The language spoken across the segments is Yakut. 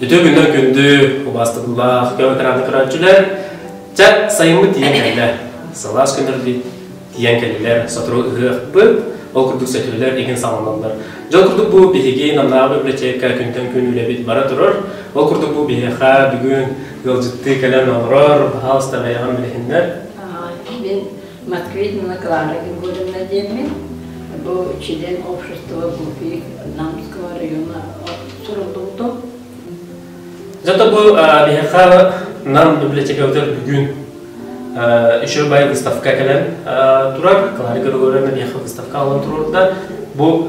Үтүө күннэр күндү убаастатылаах көмөтөраанды көрөөччүлэр Чат сайыммыт тиийэн кэллэ. Салаас күннэрди тиийэн кэллилэр сотору ыһыахпыт. Ол курдук сөтүөлэр игин саҕаланылар. Дьол курдук бу биһиги Намнааҕы библиотека күнтэн күн үлэбит бара турар. Ол курдук бу биһиэхэ бүгүн ыалдьыттыы кэлэн олорор аһаҕас табайаҕар мэлэхиннэр. Мин Москве Нина Клара Григорьевна диэммин. Бу член общества ГУПИ Намского района суруллубутум. Зато был биһиэхэ Нам библиотекабытыгар бүгүн еще бай выставка кэлэн турар. Клара Григорьевна биһиэхэ выставка алан турурда. Бу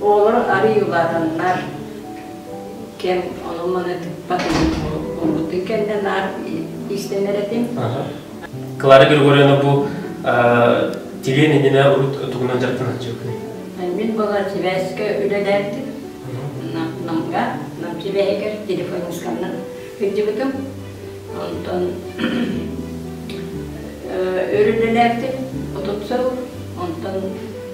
Оҕолор арыйыылаатаннар, кэм ону-маны тыппат булбутун кэннэ наар иистэнэр этим. Клара Григорьевна бу тилиэн иннинэ урут тугунан дьарыктанан дьүкүнүй? Мин была сибээскэ үлэлээтим. Намга, Нам сибээһигэр телефонисканнан кырдьыбытым. Онтон өрүлэлээтим, отут сыл, онтон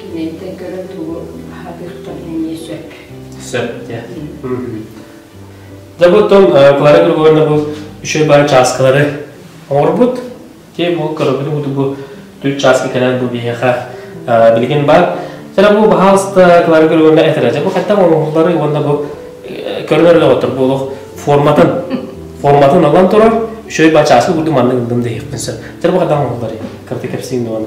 Киниттэн көрө тугу сатыахтарын эмиэ сөп. Сөп, дьэ. Дьэ, бу оттон Клара Григорьевна бу үчүгэй баар чааскалары оҥорбут. Тиэ бу көрөбүн бу бу төрүт чааска кэлэн бу биһиэхэ билигин бар. Жана бу баһаалыста Клара Григорьевна этэрэ. Дьэ, бу хаттан оҥоһуллары уонна бу көрөнөр оҕотор бу олох форматын форматын ылан турар үчүгэй баар чааска курдук маннык ылдым диэхпин сөп. Жана бу хаттан оҥоһуллары кырты кэпсиин дуон.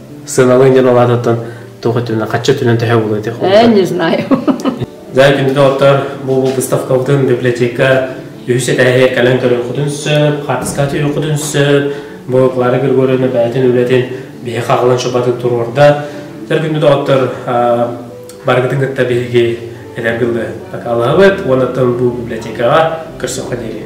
сыаналыын диэн улаатыттан туох өттүнэн хачча өттүнэн төһө буолуо этих Э, не знаю. Заин күндүтоттор бу быыстапкабытын библиотека үһүс этээһи кэлэн көрүөххүтүн сөп, хатыскаты үөххүтүн сөп, бу Клара Григорьевна бэйэтин үлэтин биһи хаҕылан шубатын туруорда. Тер күндүтоттор барыгытын кытта биһиги этэр кылы такалабыт, уонаттан бу библиотекаҕа көрсөххө диэри.